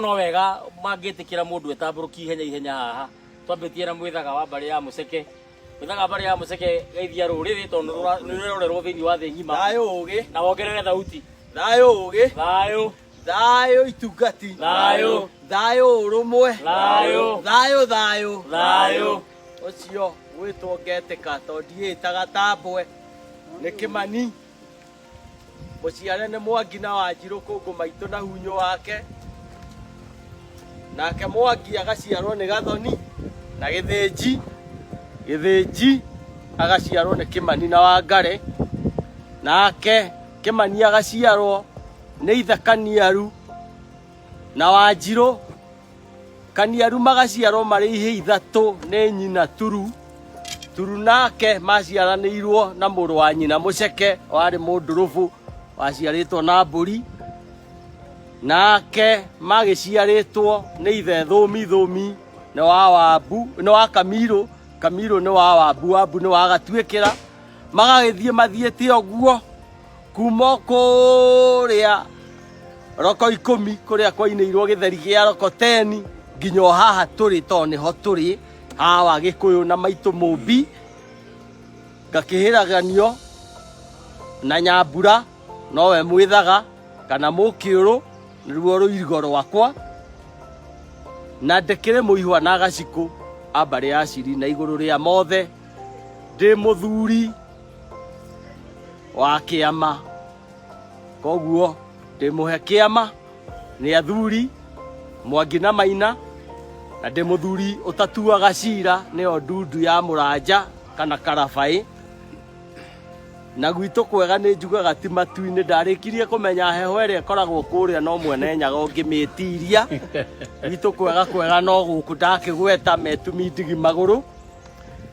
No wega mangĩtĩkĩra mũndũ etambũrũkie ihenya ihenya haha twambĩtie na mwĩthaga wa mbarĩ ya mũceke mwĩthaga mbarĩ ya mũceke geithia rũrĩrĩ tondũ rũra- nĩrũrerorerwo thĩinĩ wa thĩ ng'ima thayå å gä na wongerere thauti thayå å gä thayũ thayå itungati Thayũ. thayå å rå mwe Thayũ. thayå thayå Thayũ. å cio gwä two ngetä ka to ndiä taga tambwe nä kä mani Mũciare nĩ Mwangi na Wanjirũ kũngũ maitũ na hunyũ wake. Nake Mwangi agaciarwo nĩ Gathoni na Gĩthĩnji. Gĩthĩnji agaciarwo nĩ Kĩmani na Wangare. Nake Kĩmani agaciarwo nĩ Ithe Kaniaru na Wanjirũ. Kaniaru magaciarwo marĩ ihĩ ithatũ nĩ nyina Turu. Turu nake maciaranĩirwo na mũrũ wa nyina Mũceke warĩ mũndũrũbũ waciarĩtwo na mbũri. Nake magĩciarĩtwo nĩ ithe Thũmi, Thũmi nĩ wa Wambu, nĩ wa Kamirũ, Kamirũ nĩ wa Wambu, Wambu nĩ wa Gatuĩkĩra. Magagĩthiĩ mathiĩte ũguo kuma kuria roko ikumi kuria kwainirwo githeri gia roko teni nginya o haha turi to niho turi hawa gikuyu na maitu mumbi ngakihiraganio na nyambura nowe mwithaga kana mukiuru niruo ruirigo rwakwa na ndekire muihwa na gaciku ambare aciri na iguru ria mothe ndi muthuri wa kĩama koguo ndĩmũhe kĩama nĩ athuri mwangi na maina na ndĩ mũthuri ũtatuaga cira nĩyo ndundu ya mũranja kana karabaĩ na gwitũ kwega nĩ njugaga ti matu-inĩ ndarĩkirie kũmenya heho ĩrĩa ĩkoragwo kũrĩa no mwene nyaga ũngĩmĩtiria gwitũ kwega kwega no gũkũ ndakĩgweta metumi ndigi magũrũ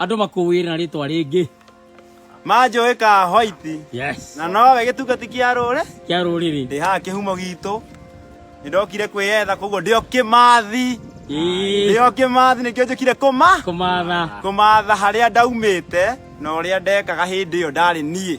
Andũ makũwĩre na rĩtwa rĩngĩ. Manjũĩ ka white. Yes. Na nowe gĩtungati kĩa rũrĩ. Kĩa rũrĩrĩ. Ndĩ haha kĩhumo gitũ. Nĩndokire kwĩyetha koguo ndĩo kĩmathi. Ndĩo kĩmathi nĩkĩo njũkire kũma. Kũmatha. Kũmatha harĩa ndaumĩte na ũrĩa ndekaga hĩndĩ ĩyo ndarĩ niĩ.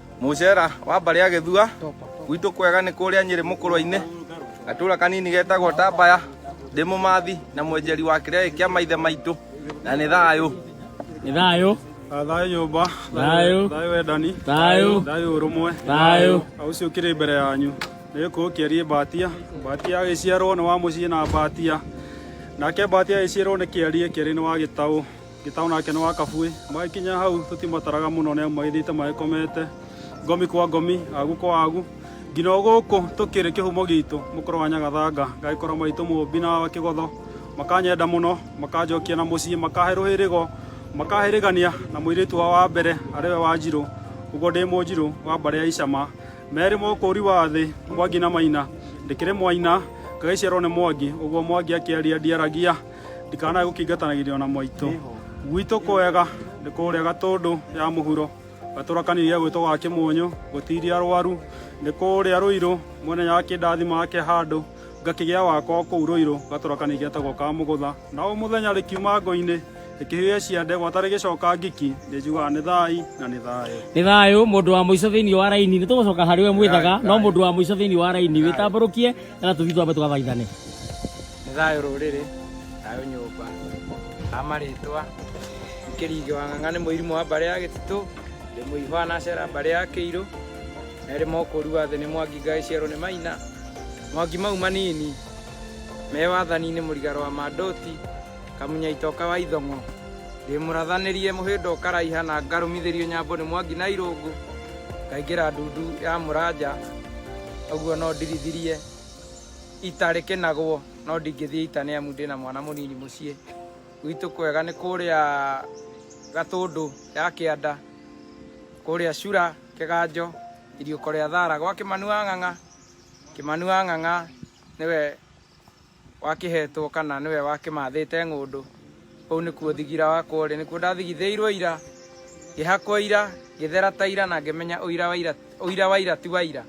Mucera wa mbarĩ ya gĩthua gwitũ kwega nĩ kũrĩa nyĩrĩ mũkũrwa-inĩ gatũra kanini getagwo tambaya ndĩ mũmathi na mwenjeri wa kĩrĩa gĩkĩ kĩa maithe maitũ na nĩ thayũ nĩ thayũ thayũ nyũmba Thayũ. thayũ wendani Thayũ. thayũ ũrũmwe Thayũ. Na ũcio ũkĩrĩ mbere yanyu nĩ gũkũ ũkĩariĩ mbatia mbatia agĩciarwo nĩ wa mũciĩ na mbatia nake mbatia agĩciarwo nĩ kĩariĩ kĩariĩ nĩ wa gĩtaũ Gĩtaũ nake nĩ wa Kabuĩ. Magĩkinya hau tũtimataraga mũno nĩ amu magĩthiĩte magĩkomete ngomi kwa ngomi, agu kwa agu. Nginya o gũkũ tũkĩrĩ kĩhumo gitũ mũkũrũ wa Nyagathanga ngagĩkora maitũ Mũmbi na wa Kĩgotho makanyenda mũno, makanjokia na mũciĩ, makahe rũhĩrĩgo, makahe rĩgania na mũirĩtu wao wa mbere arĩ we Wanjirũ. Ũguo ndĩ Mũnjirũ wa mbarĩ ya Icama. Merĩ ma ũkũũri wa thĩ, Mwangi na Maina. Ndĩkĩrĩ Mwaina, ngagĩciarwo nĩ Mwangi. Ũguo Mwangi akĩaria ndiaragia. ndikanae gũkĩingatanagĩria ona mwaitũ gwitũ kwega nĩ kũrĩa gatũndũ ya mũhuro gatũra kanini ya gwĩtwo ga kĩmũnyũ gũtiria arwaru nĩ kũrĩa rũirũ mwene ya kĩndathima ake handũ ngakĩgĩa wakwa kũu rũirũ gatũra kanini getagwo ka mũgũtha na o mũthenya rĩkiuma ngo-inĩ rĩkĩhĩe cia ndegwa tarĩ gĩcoka ngiki nĩ njugaga nĩ thai na nĩ thayũ nĩ thayũ mũndũ wa mũico thĩinĩ wa raini nĩ tũgũcoka harĩ we mwĩthaga no mũndũ wa mũico thĩinĩ wa raini wĩtambũrũkie na tũthiĩ twambe tũgathaithane Nĩ thayũ rũrĩrĩ, thayũ nyũmba. A marĩtwa, Kĩringĩ wa Ng'ang'a nĩ mũirimũ wa mbarĩ ya Gĩtitũ, ndĩ mũihwa na cera mbarĩ ya Kĩirũ, erĩ mokũru wa thĩ nĩ Mwangi ngagĩciarwo nĩ Maina, Mwangi mau manini me wathani-inĩ mũrigaro wa Mandoti, Kamunya itoka wa Ithong'o, ndĩ mũrathanĩrie mũhĩndo ũkaraiha na ngarũmithĩrio nyambo nĩ Mwangi na Irũngũ, ngaingĩra ndundu ya Mũranja, ũguo no ndirithirie. ita rĩkĩnagwo no ndingĩthiĩ ita nĩ amu ndĩna mwana mũnini mũciĩ gwitũ kwega nĩ kũrĩa gatũndũ ya kĩanda kũrĩa cura kĩganjo iriũko rĩa thara gwa kĩmanu wa ng'ang'a kĩmanu wa ng'ang'a nĩwe wakĩhetwo kana nĩwe wakĩmathĩte ng'ũndũ Kũu nĩkuo thigira wakwa ũrĩ, nĩkuo ndathigithĩirwo ira, ngĩhakwo ira, ngĩthera ta ira na ngĩmenya ũira wa ira, ũira wa ira ti wa ira.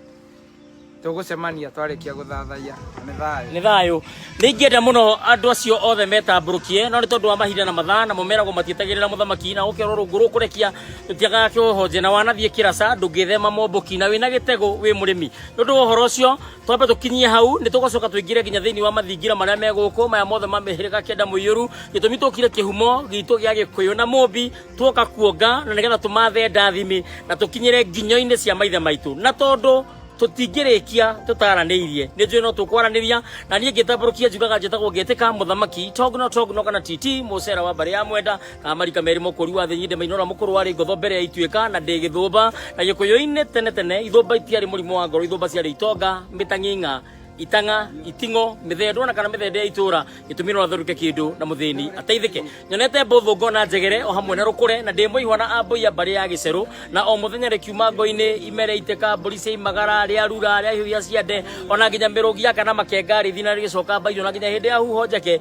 Tũgũcemania twarĩkia gũthathaiya na nĩ thayũ. nĩ thayũ nĩ ingĩenda mũno andũ acio othe metambũrũkie no nĩ tondũ wa mahinda na mathaa na mũmeragwo matietagĩrĩra mũthamaki na ũkerwo rũngũ rũkũrekia rũtiagaga kĩhohonje na wanathiĩ kĩraca ndũngĩthema momboki na wĩna gĩtegũ wĩ mũrĩmi nĩ ũndũ wa ũhoro ũcio twambe tukinyie hau ni tugocoka tuingire nginya thiini wa mathingira maria me guku maya mothe ma mihirika kenda muiyuru gitumi tukire kihumo gitu gia gikuyu na mumbi tuoka kuonga na nigetha tumathe ndathimi na tukinyire nginyo-ini cia maithe maitu na tondu tutingirikia tutaraniirie ni njui no tukwaraniria na nie ngitamburukia njugaga njitagwo ngetika muthamaki togno togno kana titi mucera wa mbari ya mwenda amarika merĩ mũkũri wa thĩ nyinde mainora mũkũrũ warĩ ngotho mbere ya ituĩka na ndĩ gĩthũmba na gĩkũyũ-inĩ tene tene ithũmba itiarĩ mũrimũ wa ngoro ithũmba ciarĩ itonga mĩtang'ing'a itang'a iting'o mĩthendwa na kana mĩthende ya itũra gĩtũmi no athũrũke kĩndũ na mũthĩni ateithĩke nyonete mbũthũ ngona njegere o hamwe na rũkũre na ndĩ mũihwa na ambũia mbarĩ ya gĩcerũ na o mũthenya rĩkiuma ngo-inĩ ime rĩaitĩka mbũri cia imagara rĩa rura rĩa hiũhia ciande ona nginya mĩrũgi ya kana makenga rĩthina rĩgĩcoka mbairio na nginya hĩndĩ ya huho njeke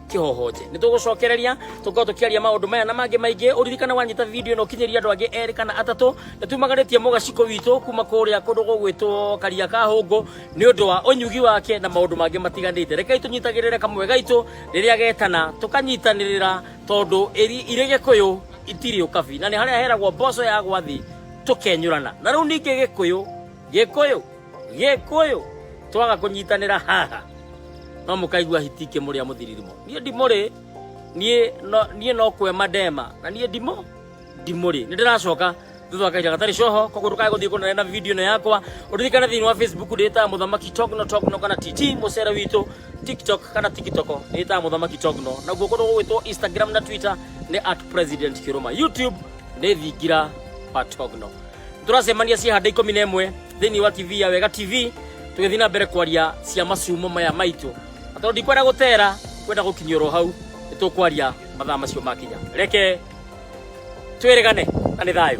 kĩhohonje nĩ tũgũcokereria tũkorwo tũkĩaria maũndũ maya na mangĩ maingĩ ũririkana wanyita video ĩno kinyĩria andũ angĩ erĩ kana atatũ nĩ tumagarĩtie mũgaciko witũ kuma kũrĩa kũndũ gũgwĩtwo karia ka hũngũ nĩ ũndũ wa ũnyugi wake na maũndũ mangĩ matiganĩte rekei tũnyitagĩrĩre kamwe gaitũ rĩrĩa getana tũkanyitanĩrĩra tondũ ĩri- irĩ gĩkũyũ itirĩ ũkabi na nĩ harĩa heragwo mboco ya gwathi tũkenyũrana na rĩu ningĩ gĩkũyũ Gĩkũyũ, Gĩkũyũ, twaga kũnyitanĩra haha no mũkaigua hiti ikĩmũrĩa mũthiririmo. Niĩ ndimũrĩ, niĩ no, niĩ no kwema ndema na niĩ ndimũ ndimũrĩ. Nĩ ndĩracoka thutha wa kahinda gatarĩ coho koguo ndũkae gũthiĩ kũnene na video ĩno yakwa ũririkane thĩinĩ wa facebook ndĩĩtaga mũthamaki togno togno kana tt mũcere witũ tiktok kana tikitoko ndĩĩtaga mũthamaki togno naguo kũndũ gũgwĩtwo instagram na twitter nĩ at president kĩrũma youtube nĩ thingira wa togno tũracemania ciĩhanda ikũmi na ĩmwe thĩinĩ wa tv ya wega tv tũgĩthiĩ na mbere kwaria cia macumo maya maitũ Na tondũ ndikwenda gũtera kwenda gũkinyia oro hau nĩ tũkwaria mathaa macio makinya reke twĩrĩgane na nĩ thayũ